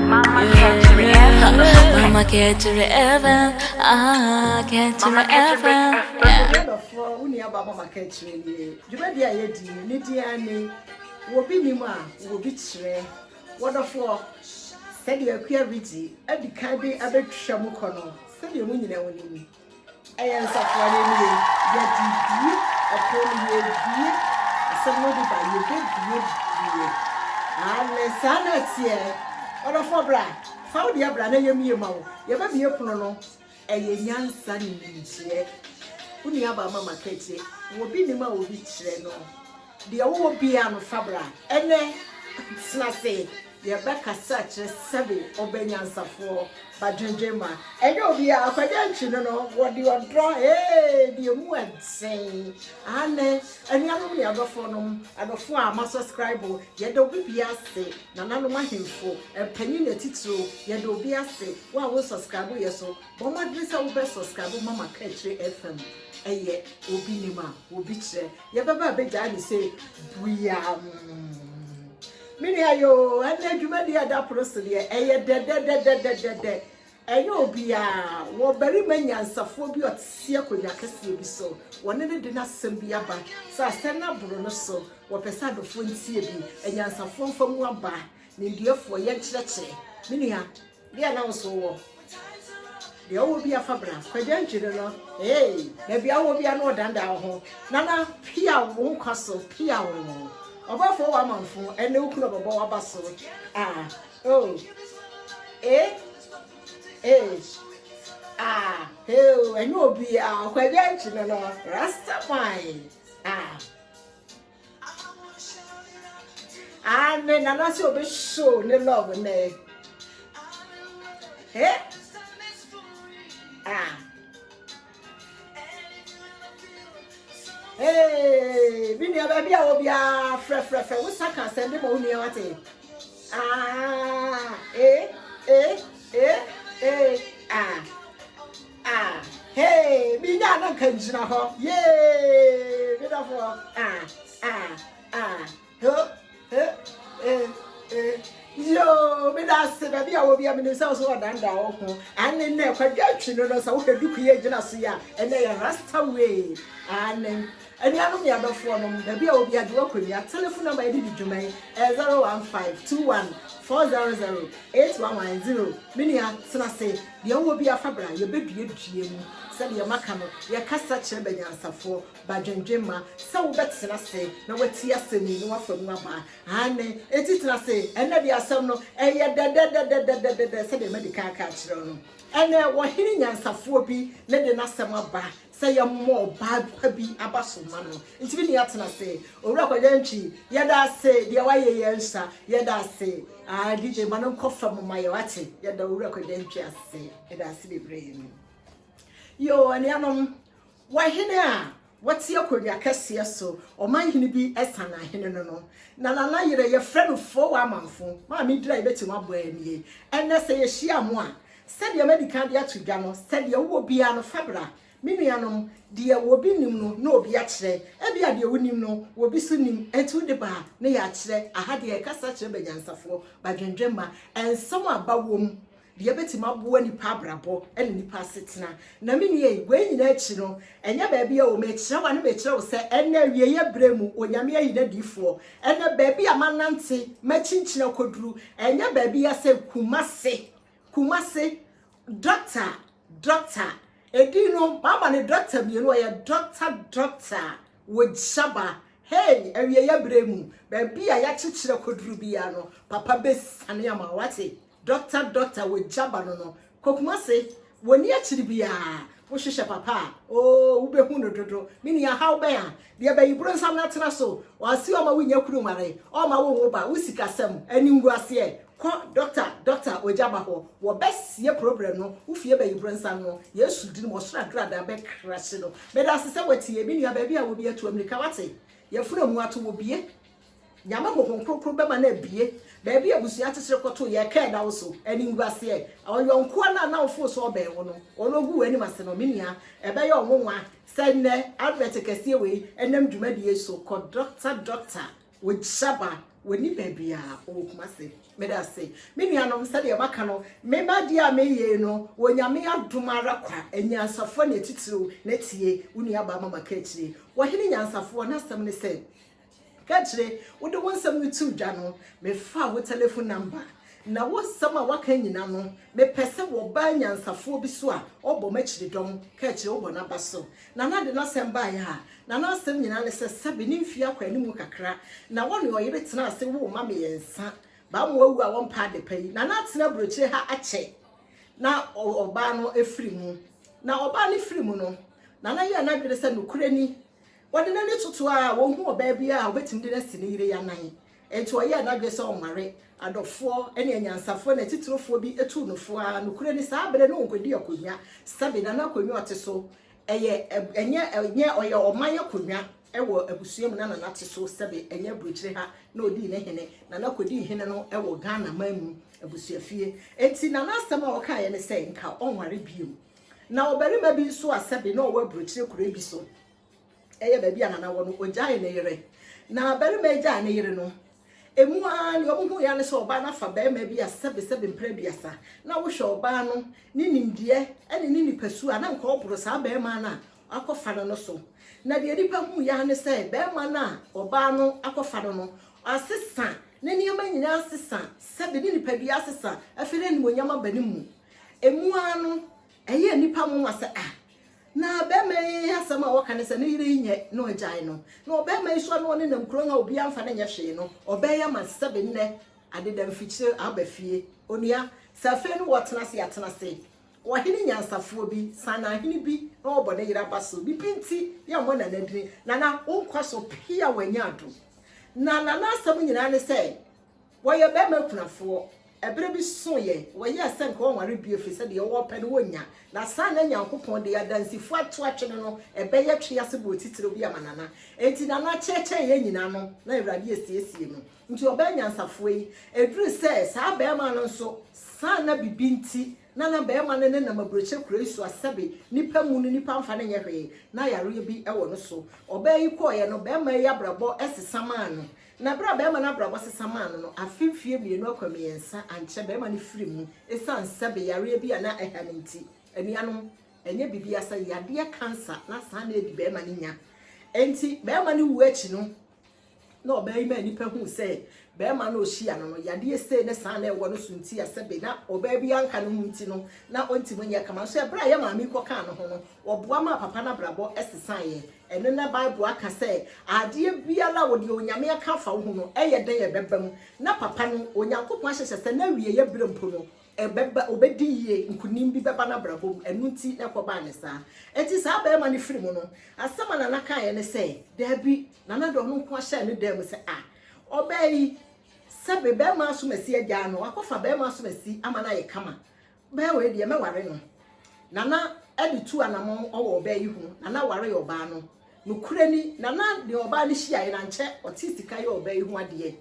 Mama kɛkyerɛ ɛfɛm Mama kɛkyerɛ ɛfɛm Ah kɛkyerɛ ɛfɛm Adɔfoɔ wo nua ba mama kɛkyerɛ nie dwumadie a yɛdi no ne din ara ni wɔbi nim a wɔbi kyerɛ wɔdɔfoɔ sɛdeɛ akua regye adi kan de abɛtwa mu kɔ no sɛdeɛ mo nyinaa mo nim Ɛyɛ nsafoa no nie, yɛde bue ɛpono no, yɛbue, asɛm no de ba, yɛbɛbue bue. Aane, saa na ɛteɛ. Ɔdɔfoɔ bra, fa wo deɛ bra na yɛmmue ma wo. Yɛbɛbue pono no. Ɛyɛ nyansa ne nimdeɛ. Wo nuabaa mama kɛtie, obi nim a obi kyerɛ no. Deɛ wowɔ biaa no fa bra ɛnɛ tena se yɛbɛ kasa kyerɛ sɛbe ɔbɛ nyansafoɔ ba dwendwen ma ɛnyɛ obiaa kwadwo akyi no no wɔde ɔdɔ ee de emu ɛden aane anuanom ne adɔfoɔ nom adɔfoɔ a ma subscribe yɛda obi biaa se nananom ahemfo mpanin atitiriw yɛda obi ase wo a wo subscribe yɛ so Bɔ mmɔden sɛ wobɛ subscribe ma Makaakyire FM ɛyɛ obi nim a obi kyerɛ yɛbɛba abɛgyae ne sɛ buam me nua yoo ɛnna adwuma deɛ ɛda pono so deɛ ɛyɛ dɛdɛdɛdɛdɛdɛ ɛnyɛ obiara wɔ barima nyansafoɔ bi ɔtesi akonnwa kɛseɛ bi so wɔne ne de n'asɛm bi aba sɛ asɛm no aboro no so wɔpɛ sɛ adɔfoɔ ntie bi anyansafoɔ mfa mu aba nimdeɛfoɔ yɛnkyerɛkyerɛ me nua Deɛ na wo so wɔ. Deɛ wowɔ bia fa bra. Kwagya ankyi no no eei. Bɛbia wowɔ bia no ɔdandaa wo ho. Nana piaw wo nkwa so piaw wo. Ɔbɔfoɔ wɔ amanfo ɛnɛ wo kunu ɔbɛbɔ waba so ah oh eh eh ah heo ɛnyɛ obia Kwagya ankyi no no Rasta man ah. Amen. Nana sɛ obi show ne love nɛ. Eh? Ah. Hey, me nua baabi a wɔ biara frɛfrɛfrɛ wo sa ka asɛm de ma wo nua wate. Ah, eh, eh, eh, eh, ah. Ah hey me nya na nka ngyina hɔ yee me dɔfo ah ah ah ho eh eh eh yoo me da ase baabi a wɔ bi a menim sɛ wo so wɔdandaa wo ho ane nnɛ kwadwa atwi no no sɛ wohwɛ duku yɛ gyina so yi a ɛnɛ yɛ rasta way ane anuanom ne adɔfoɔ nom baabi a wɔ bi agye woakɔnua telefon namba yɛde di dwuma yi 015 21 400 8110 menua tena se Deɛ wowɔ biara fa bra, yɛbɛduadua mu, sɛdeɛ maka no, yɛkasa kyerɛ bɛnyansafoɔ, ba dwendwemma, sɛ wobɛtena ase na woatie asɛm yi na woafa mu aba. Aane, enti tena ase. Ɛnnɛ deɛ asɛm no, ɛyɛ dɛdɛdɛdɛdɛdɛdɛdɛ sɛdeɛ madi kan aka akyerɛ wo no. Ɛnnɛ, ɔhene nyansafoɔ bi ne de n'asɛm aba, sɛ yɛmmɔ ɔbaa pa bi aba so mma no ntumi ne yɛatena ase. Owura Kwagyantwi, yɛda ase, deɛ woayɛ yɛ nsa, yɛda ase. Ah, DJ ma no nkɔ fam ma yɛ, wate? Yɛda Owura Kwagyantwi ase, yɛda ase bebree no. Yo, anuanom, wɔhene a wɔte akonnwa kɛseɛ so, ɔman hene bi ɛsan ahene no no, na nana yerɛ yɛfrɛ no foo wɔ amanfo, maame dira yɛbɛtumi abɔ anie, ɛnɛ sɛ yɛhyia mo a, Sɛdeɛ madi kan de ato dwa no, sɛ deɛ wowɔ biara no, fa bra. Me nuanom, deɛ obi nnim no, na obi akyerɛ. Ebia deɛ wonim no, obi nso nim. Enti wode ba a, na yɛakyerɛ. Aha deɛ, yɛkasa kyerɛ banyansafoɔ, badwendwemma, nsɛm a aba wom, deɛ ɛbɛtumi aboa nnipa abrabɔ ne nnipa asetena. Na me nua yi, wei nyinaa akyi no, ɛnyɛ baabi a o, mekyerɛ wo a, na mekyerɛ wo sɛ, ɛnnɛ, awieeɛ berɛ mu, Onyame ayi N'adiyifoɔ. Ɛnnɛ, baabi a manante, makyinkyini akɔduru, ɛnyɛ baabi ara sɛ Kumasi. Kumasi, dɔkta, dɔkta. Edin no, mama no dɔkta mmienu, ɔyɛ dɔkta, dɔkta wɔ Shaba. Hey, awieeɛ abere mu, baabi a yɛakyekyerɛ kɔduru biara no, papa bɛsiane ama wate. Dɔkta, dɔkta wɔ Jaba no no, kɔ Kumasi, wɔnni akyiri biara. Wohwehwɛ papa a, oo, wobɛhu no dodo. Me nua, haw bɛn a Deɛ bɛyi bronsam no atena so. Ɔase ɔma wo nya kunu nware, ɔma wo nwo ba, wo sikasɛm, animguaseɛ, kɔ doctor doctor ogya ba hɔ, wɔ bɛ sie problem no wo fie bɛyi bronsam no Yesu dini mu ɔsoro agradaa bɛ crushe no. Meda ase sɛ watie, me nua baabi a wo biara tu amirika wate, yɛfunu amu ato wo bie. Nyame hohom kronkron bɛma no abie baabi a abusua atesere kɔtoo yɛɛ kɛɛ da wo so animguaseɛ ɔyɔnkoa no a na wofoo so ɔbɛn wo no ɔno ɔgu w'anim ase no me nua ɛbɛyɛ wo nwonwa sɛ nnɛ advert kɛseɛ wei ɛnam dwumadie yi so kɔ doctor doctor wogyaba w'ani baabiaa ɔwɔ Kumase meda ase me nuanom sɛdeɛ maka no me ma deɛ a meyei no wɔ Nyame adom ara kwa anyansafoɔ ne atitiriw na tie wo nua baa mama ka akyire wɔ hene nyansafoɔ n'asɛm ne sɛ Kakyire, wode wo nsɛm no too dwa no, mefaa wo telefon namba. Na wo nsɛm a woaka nyina no, mepɛ sɛ wɔba anyansafoɔ bi so a ɔbɔ m'akyiridɔm, Kakyire, wobɔ n'aba so. Nana de n'asɛm baeɛ a, na n'asɛm nyina ne sɛ, sɛbe ne mfie akɔ animu kakra, na wɔne ɔyere tena ase woo mma mmiɛnsa. Baamoa awu a wɔmpɛ adepa yi, Nana atena aburokyire ha akyɛ na ɔbaa no afiri mu. Na ɔbaa no firi mu no, Nana yɛɛ n'adwene sɛ nokorɛ ni, Ɔde n'ani toto a, ɔhuu ɔbaa bi a ɔbɛtumi de no asi ne yere anan. Enti ɔyɛɛ n'adwene sɛ ɔnware. Adɔfoɔ ne anyansafoɔ ne atiterefoɔ bi tuu no fo ara. Nokorɛ ni, saa berɛ no ɔnkɔdi akonnwa, sɛbe, na na akonnwa a ɔte so yɛ, ɛnyɛ, ɛnyɛ, ɔyɛ ɔman akonnwa wɔ abusua mu na na nate so, sɛbe, ɛnyɛ aburokyire ha na ɔdii ne hene, na na kɔdii hene no wɔ Ghana man mu abusuafie. Enti na n'asɛm a ɔkaeɛ ne sɛ nka ɔnware bio. Na ɔbarima bi nso a sɛbe na ɔwɔ aburokyire kure bi so, ɛyɛ baabi a nana wɔ no, ɔgyaee ne yere. Na barima yi gyaee ne yere no, emu ara nea ɔhuhui ara ne sɛ ɔbaa no afa barima bi a sɛbe sɛbe mpere aduasa. Na wohwɛ ɔbaa no, ne nimdeɛ ne ne nipasu a na nka ɔboro saa barima no a wakɔfa no no so. Na deɛ nnipa huiɛ ara ne sɛ barima no a ɔbaa no akɔfa no no, asesa, ne nneɛma nyinaa asesa, sɛbe ne nipadua asesa, afei na animuonyam aba ne mu. Emu ara no, ɛyɛɛ nnipa nwonwa sɛ, 'Ah, na barima yi asɛm a ɔka ne sɛ ne yere renyɛ no agyae no, na ɔbarima yi nso a na ɔne no nkuro a obiara mfa no nyɛ hwee no, ɔbɛn ama sɛbe nnɛ ade da mfikyire aba fie. Onua, sɛ afei no wɔtena ase a, tena ase. Ɔhene nyansafoɔ bi, Saanahene bi, na ɔrebɔ ne yere aba so. Ne bi nti, yɛmmɔ Nana din. Nana, wo nkwa so pii a wanya adom. Na Nana asɛm nyinaa ne sɛ, Wɔyɛ barima akunafoɔ. Ɛberɛ bi soeɛ, wɔyɛɛ sɛ anka wɔnware bio ɛfiri sɛ deɛ wɔpɛ no wɔnnya. Na saa na Nyankopɔn de adansifoɔ ato atwene no ɛbɛyɛ twe ase boɔ titire bi ama Nana. Enti Nana kyeɛkyɛɛ yɛn nyinaa ano na Awurade asiesie no. Nti ɔbaa anyansafoɔ yi. Ɛduruu sɛ saa barima no nso saa na bibi nti na na barima no nenam aburokyɛ kuro yi so a sɛbe nnipa mmu no nnipa mfa no nyɛ hwee na yareɛ bi wɔ no so. Ɔbaa yi kɔeɛ no, barima yi abrabɔ sesa maa no. Na bere a barima no abrabɔ sesa maa no no, afe mfeɛ mmienu akɔ mmiɛnsa ankyɛ barima no firii mu esiane sɛbe yareɛ bi a na ɛha no nti. Anuanom, ɛnyɛ biribiara sɛ yadeɛ cancer na saa na adi barima no nya. Enti barima no wuo akyi no, na ɔbaa yi maa nnipa huu sɛ barima no a ɔhyia no no, yadeɛ sei ne saa na ɛwɔ no so nti a sɛbe na ɔbaa biara nka ne ho nti no, na ɔntumi nyɛ kama. Nso ɛberɛ a yɛn maame yi kɔkaa ne ho no, ɔboa maa papa no abrabɔ sesaeɛ. Ɛno na Bible aka sɛ, Adeɛ biara a wɔde Onyame aka afa wo ho no, ɛyɛ dɛn a ɛbɛba mu? Na papa no, Onyankopɔn ahyehyɛ sɛ n'awieeɛ berɛ mpo no, ɛbɛba, ɔbɛdi yie, nkonim bi bɛba n'abrabɔ mu. Ɛno nti na ɛkɔbaa no saa. Enti saa barima no firi mu no, asɛm a Nana kaeɛ ne sɛ, Dabi, Nana de ɔno nko ara hyɛɛ ne dan mu sɛ, Ah, ɔbaa yi, sɛbe barima asomasi agyaa no, wakɔfa barima asomasi ama no ayɛ kama. Bɛɛ wei deɛ mɛware no. Nana de tu anamɔn wɔ ɔbaa yi ho. Nana waree ɔbaa no. Nokorɛ ni, Nana ne ɔbaa no hyiaeɛ no, ankyɛ ɔtee sika yɛ ɔbaa yi ho adeɛ.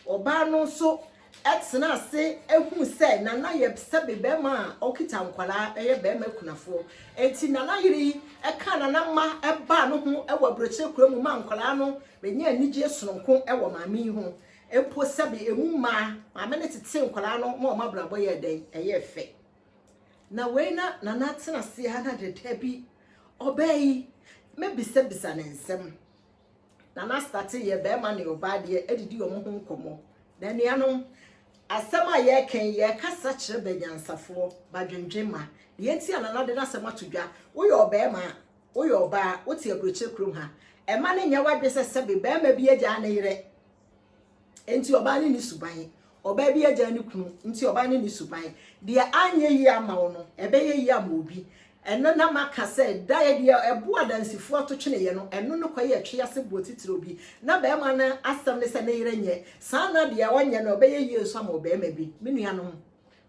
Ɔbaa no nso tenaa ase huu sɛ Nana yɛ sɛbe barima a ɔkita nkwadaa, ɛyɛ barima akunafoɔ. Enti Nana yere yi kaa Nana mma baa no ho wɔ aburokyire kura mu maa nkwadaa no bɛnyaa anigyeɛ sononko wɔ maame yi ho. Mpo sɛbe emu mmaa, maame no tetee nkwadaa no ma wɔn abrabɔ yɛɛ dɛn? Ɛyɛɛ fɛ. Na wei na Nana atena ase ara na dada bi ɔbaa yi mɛbisabisa ne nsɛm. Nana astate yɛ barima ne ɔbaa deɛ didi wɔn ho nkɔmmɔ. Na nuanom, asɛm a yɛreka yi yɛrekasa kyerɛ banyansafoɔ, badwendwen ma. Deɛ nti a Nana de n'asɛm ato dwa, woyɛ ɔbarima a, Woyɛ ɔbaa, wote aburokyire kurom ha. Mma no nyɛ w'adwene sɛ sɛbe barima bi agyaa ne yere nti ɔbaa no nni suban. Ɔbaa bi agyaa ne kunu nti ɔbaa no nni suban. Deɛ anyɛ yie ama wo no, ɛbɛyɛ yie ama obi. Ɛno na maka sɛ da yɛ deɛ ɛbo adansifoɔ ato tweneeɛ no, ɛno no kɔyɛ ɛtwe ase boɔ titire obi. Na barima no asɛm ne sɛ ne yere nyɛ saa na deɛ ɔnyɛ no ɛbɛyɛ yie nso ama ɔbarima bi. Me nuanom.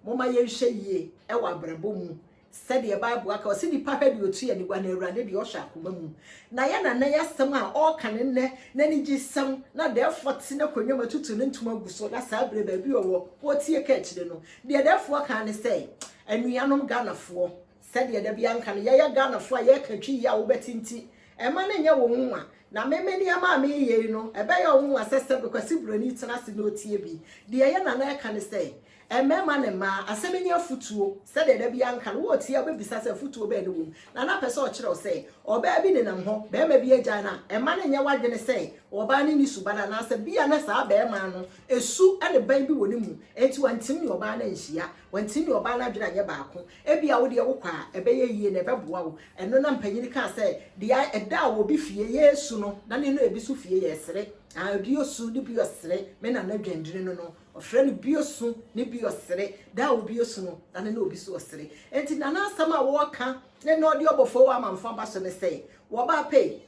Momma yɛnhwɛ yie wɔ abrabɔ mu sɛdeɛ Bible aka, ɔse nipa hwɛ deɛ ɔtu anigua na Awurade deɛ ɔhwɛ akoma mu. Na yɛ nana yi asɛm a ɔreka ne nnɛ, n'anigyesɛm, na dɛɛfoɔ te n'akonnwa mu atutu ne ntoma agu so na saa berɛ baabi ɔwɔ, ɔretie ka akyire no, deɛ dɛɛfoɔ kaa ne sɛ, Anuanom Ghanafoɔ, Sɛdeɛ da biara nka no, yɛyɛ Ghanafoɔ a yɛka Twi yie a wobɛte nti, mma no nyɛ wo nwonwa. Na me, me nneɛma a mereyɛ yi no, ɛbɛyɛ wo nwonwa sɛ sɛ Bekwasi Buroni tena ase na ɔtie bi. Deɛ yɛn nana reka ne sɛ, Mmarima ne mmaa, asɛm nyɛ afutuo. Sɛdeɛ da biara nka no, woretie a wobɛbisa sɛ afutuo bɛn na ɛwɔ mu. Nana pɛ sɛ ɔkyerɛ wo sɛ, ɔbaa bi nenam hɔ, barima bi agyae no a, mma no nyɛ w'adwene sɛ ɔbaa no nni suban anaasɛ bia na saa barima no, su ne ban bi wɔ ne mu, enti wantim ne ɔbaa no anhyia. Wantim ne ɔbaa no adwene anyɛ baako. Ebia wo deɛ wokɔ a, ɛbɛyɛ yie na ɛbɛboa wo. Ɛno na mpanin kaa sɛ, Deɛ ɛda a obi fie yɛ su no, na ne na ebi nso fie yɛ ɛsere. Aa, ebi yɛ su, ne bi yɛ ɔsere. Me nana Dwandini no no, ɔfrɛ no bi yɛ su, ne bi yɛ ɔsere. Da a obi yɛ su no, na ne na obi nso ɔsere. Enti nana asɛm a wɔreka ne na ɔde ɔbɔfo wɔ amanfo aba so ne sɛ, Wɔba pei,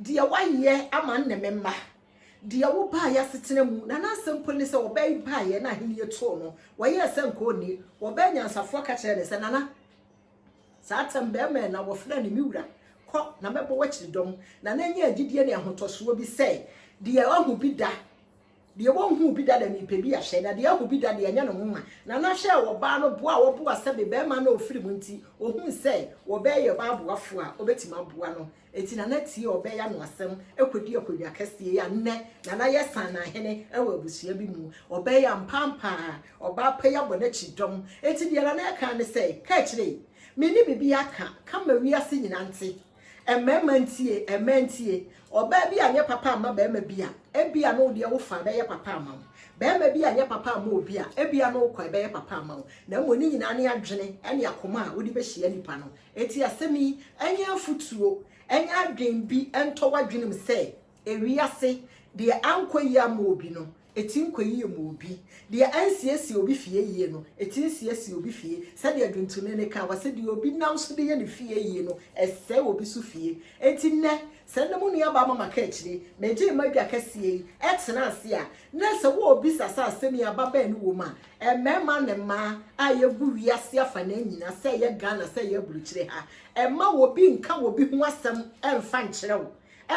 deɛ woayɛ ama nne me mma, Deɛ wobaa y'asetena mu, na n'asɛm mpo ne sɛ wɔbɛn baeɛ na ahennie too no, wɔyɛɛ sɛ nka ɔnni. Wɔbɛn nyansafoɔ ka kyerɛɛ no sɛ, Nana, saa tɛm bɛmɛn na wɔfrɛ no me wura, kɔ, na mɛbɔ w'akyiridɔm. Nana nyaa gyidie ne ahotɔsoɔ bi sɛ, Deɛ ɔahu bi da, deɛ wɔnhuu bi da na merepɛ bi ahyɛ, na deɛ ahu bi da deɛ, ɛnyɛ ne nwonwa. Nana hwɛɛ ɔbaa no boa a wɔboa sɛbe bɛmɛn na ɔfiri mu nti, ɔhuu sɛ wɔbɛn yɛ ɔbaa boafoɔ a ɔbɛtumi aboa no. Enti Nana tiee ɔbɛya no asɛm kɔdii akonnwa kɛseɛ yi a nnɛ Nana yɛ Saanahene wɔ abusua bi mu. Ɔbɛya mpaampaa ɔbaa pa yi abɔ n'akyi dɔm. Enti deɛ Nana ɛkaa ne sɛ, Ka akyire yi, menni biribi aka, ka ma wiase nyinaa nte. Mmarima ntie, mmaa ntie. Ɔbaa bi anyɛ papa amma barima bi a, ebia na wo deɛ wo fa bɛyɛ papa ama wo. Barima bi anyɛ papa amma obi a, ebia na wo kwa bɛyɛ papa ama wo. Na mmom ne nyinaa ne adwene ne akoma a wode bɛhyia nipa no Enti asɛm yi, ɛnyɛ afotuo, ɛnyɛ adwen bi ntɔ w'adwenem sɛ, ewiase, deɛ ankɔ yie amma obi no, ɛtim kɔ yie ma obi. Deɛ ansiesie obi fie yie no, ɛtim siesie obi fie. Sɛdeɛ dwontoni no ka, ɔse, deɛ obi nam so de yɛ ne fie yie no, ɛsɛe obi so fie. Enti nnɛ, sɛ nne mo nuabaa Mama ka akyire, megyee m'adwa kɛseɛ yi, ɛtena ase a, na sɛ wɔrebisa saa asɛm yi a, ba bɛn ne wɔ mu a, Mmarima ne mmaa a yɛgu wiase afanaa nyina sɛ ɛyɛ Ghana sɛ ɛyɛ aburukyire ha, mma obi nka obi ho asɛm mfa nkyerɛ wo,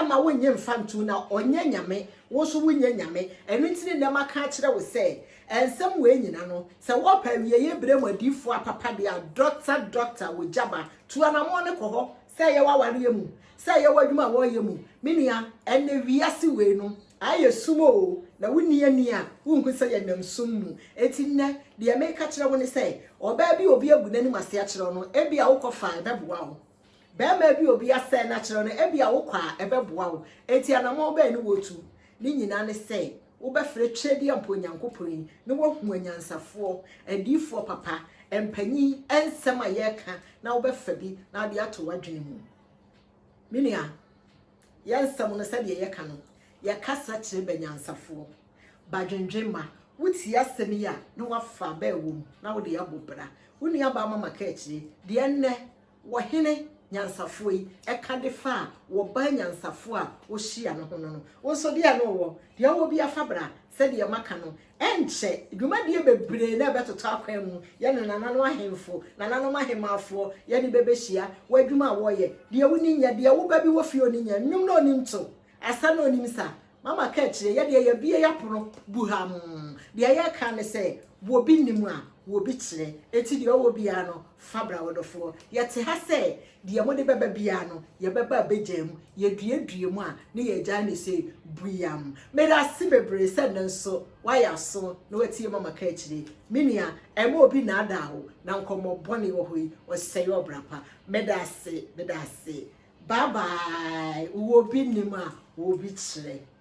mma wonnye mfa nto mu na ɔnyɛ Nyame, wo nso wonyɛ Nyame. Ɛno nti ne nnɛ maka akyerɛ wo sɛ nsɛm wei nyina no, sɛ wɔpɛ awieɛ berɛ mu adiyifoɔ apapa deɛ a, Dɔkta Dɔkta Wogyaba, tu anamɔn no kɔ hɔ. Sɛ ɛyɛ w'awareɛ mu, sɛ ɛyɛ w'adwuma a wɔreyɛ mu, me nua, ɛnnɛ wiase wei no, Ayɛ sum oo, na wonni ani a, wunhu sɛ yɛnam sum mu. Enti nnɛ, deɛ mereka akyerɛ wo ne sɛ, ɔbaa bi a obi agu n'anim ase akyerɛ wo no, ebia wokɔ fa a, ɛbɛboa wo. Barima bi a obi asɛe no akyerɛ wo no, ebia wokɔ a, ɛbɛboa wo. Enti anammɔn bɛn ne wotu? Ne nyinaa ne sɛ, wobɛfrɛ Tweredie Ampa Onyankopɔn yi, na woahu anyansafoɔ, adiyifoɔ papa, mpanyin, nsɛm a yɛreka, na wobɛfa bi, na wode ato w'adwene mu. Me nua, yɛ nsɛm no sɛdeɛ yɛka no, yɛ kasa kyerɛ bɛ nyansafoɔ, ba dwendwen ma, wo tie asɛm yi a na wafa bɛ wɔ mu na wode abɔ bra, wo nua baa mama kaakyire deɛ nnɛ wɔ hene nyansafoɔ yi ɛka de fa a wɔ baa nyansafoɔ a wo hyia no ho no no, wo nso deɛ no wɔ, deɛ wɔ bia fa bra, sɛdeɛ maka no Ɛnkyɛ, dwumadie bebree na ɛbɛtotɔ akwan mu, yɛne nananom ahemfo, nananom ahemmafoɔ, yɛne bɛbɛhyia, wɔ adwuma a wɔyɛ, deɛ woni nyɛ, deɛ woba bi wɔ fie a ɔni nyɛ, nnwom na ɔnim to, asa na ɔnim sa. Mama ka akyire, yɛdeɛ yɛabue yɛapono buhamm, deɛ yɛka ne sɛ, wɔbi nnim a, wɔbi kyerɛ, enti deɛ ɔwɔ biara no, fa bra wodɔfoɔ. Yɛte ha sɛ Deɛ mode bɛba biara no, yɛbɛba abɛgyaa mu. Yɛduadua mu a, ne yɛagyaa no sɛ buyam. Meda ase bebree sɛ nnɛ nso woayɛ aso na woatie Mama Ka Akyire. Me nua, ɛmma obi nnaadaa wo, na nkɔmmɔ bɔne wɔ hɔ yi, ɔsɛe ɔbra pa. Meda ase, meda ase. Bye bye. Wowɔ obi nim a, wɔ obi kyerɛ.